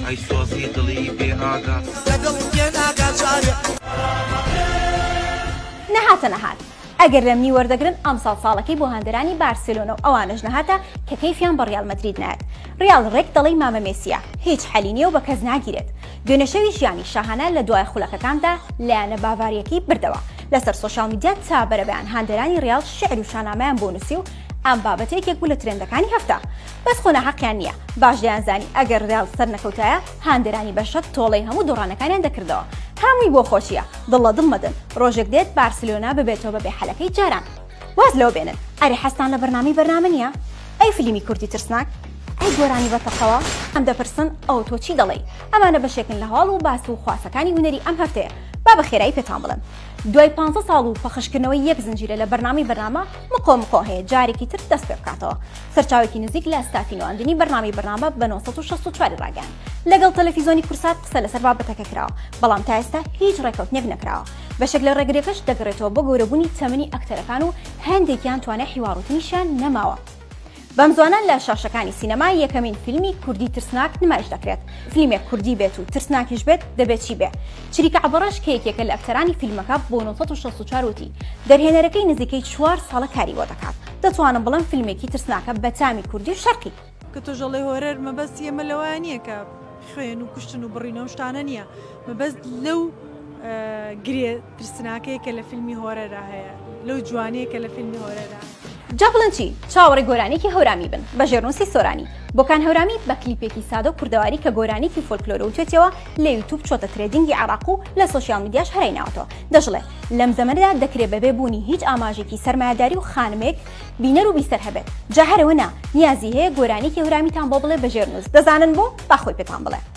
ئەی سۆزی دڵی بێ ئاگا لەگەڵ بێ ناگا جارێ نەهاتە نەهات ئەگەر لەمنی وەردەگرن ئەمساڵ ساڵەکەی بۆ هاندەرانی بارسلۆنە و ئەوانش نەهاتە کە کەیفیان بە ڕیال مەدرید نایەت ڕیال ڕێک دەڵی مامە مێسیە هیچ حەلی نییە و بە کەس ناگیرێت دوێنەشەوی ژیانی شاهانە لە دوای خولەکەکاندا لایەنە باڤاریەکەی بردەوە لەسەر سوۆشال میدیا تا بەرەبیان هاندەرانی ڕیال شعر و شانامەیان بۆ نووسی و ئەم بابەتێکێک بوو لە ترندەکانی هەفتە بەس خۆ ناحەقیان نیە باش دەیانزانی ئەگەر ریال سەرنەکەوتایە هاندەرانی بەشەک تۆڵەی هەموو دۆڕانەکانیان دەکردەوە هەمووی بۆ خۆشیە دڵ لە دڵ مەدەن رۆژێک دێت بارسلۆنا ببێتەوە بە بێحەلەکەی جاران واز لەوە بێنن ئەرێ حەزتان لە بەرنامەی بەرنامە نیە ئەی فلیمی کوردی ترسناک ئەی گۆرانی بە تەقەوە ئەم دەپرسن ئەو تۆ چی دەڵێی ئەمانە بەشێکن لە هەواڵ و باس و خواسەکانی هونەری ئەم هەفتەیە با بە خێرایی پێتان بڵێم دوای پانزە ساڵ و پەخشکردنەوەی یەک زنجیرە لە بەرنامەی بەرنامە مقۆ مقۆ هەیە جارێکی تر دەست پێ بکاتەوە سەرچاوێکی نزیک لە ستافی نواندنی بەرنامی بەرنامە بە 1964 ڕاگەن لەگەڵ تەلەفیزۆنی کورسات قسە لەسەر بابەتەکە کراوە بەڵام تا ئێستا هیچ ڕێکەوتنێک نەکراوە بەشێک لە ڕێگرەکەش دەگەڕێتەوە بۆ گەورەبوونی تەمەنی ئەکتەرەکان و هەندێکیان توانای حیواڕوتنیشیان نەماوە بەمزوانە لە شاشەکانی سینەما یەکەمین فیلمی کوردی ترسناک نمایش دەکرێت، فلیمێک کوردی بێت و ترسناکیش بێت دەبێ چی بێ؟ چریکە عەبەڕەش کە یەکێکە لە ئەکتەرانی فیلمەکە بۆ نۆ سەد و شەست و چوار وتی، دەرهێنەرەکەی نزیکەی چوار ساڵە کاری بۆ دەکات، دەتوانم بڵێم فیلمێکی ترسناکە بە تامی کوردی و شەرقی. کە تۆش ئەڵێی هۆرەر، مەبەستی ئێمە لەوە نییە کە خوێن و کوشتن و بڕین و ئەو شتانە نییە، مەبەست لەو گرێ ترسناکەی کە لە فیلمی هۆرەرا هەیە لەو جوانیە کە لە فیلمی هۆرەرا. جا بڵێن چی چاوەڕێ گۆرانیەکی هەورامی بن بە ژێرنوسی سۆرانی بۆکان هەورامی بە کلیپێکی سادە و کوردەواری کە گۆرانیەکی فۆلکلۆرە و توێتیەوە لە یوتوب چۆتە ترێدینگی عێڕاق و لە سۆشیال میدیاش هەرای ناوەتەوە دەشڵێ لەم زەمەنەدا دەکرێ بەبێ بوونی هیچ ئاماژێکی سەرمایەداری و خانمێک بینەر و بیسەر هەبێت جا هەرەوە نا نیازی هەیە گۆرانیەکی هەورامیتان بۆ بڵێ بە ژێرنوس دەزانن بۆ با خۆی پێتان بڵێ.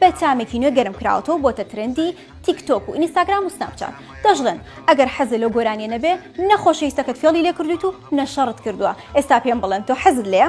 بە تامێکی نوێ گەرم کراوەتەوە و بۆتە ترێندی تیک تۆک و ئینستاگرام و سناپ چات. دەشڵێن، ئەگەر حەزت لەو گۆرانییە نەبێ، نە خۆشەویستەکەت فێڵی لێ کردوویت و نە شەڕت کردووە. ئێستا پێم بڵێن تۆ حەزت لێیە؟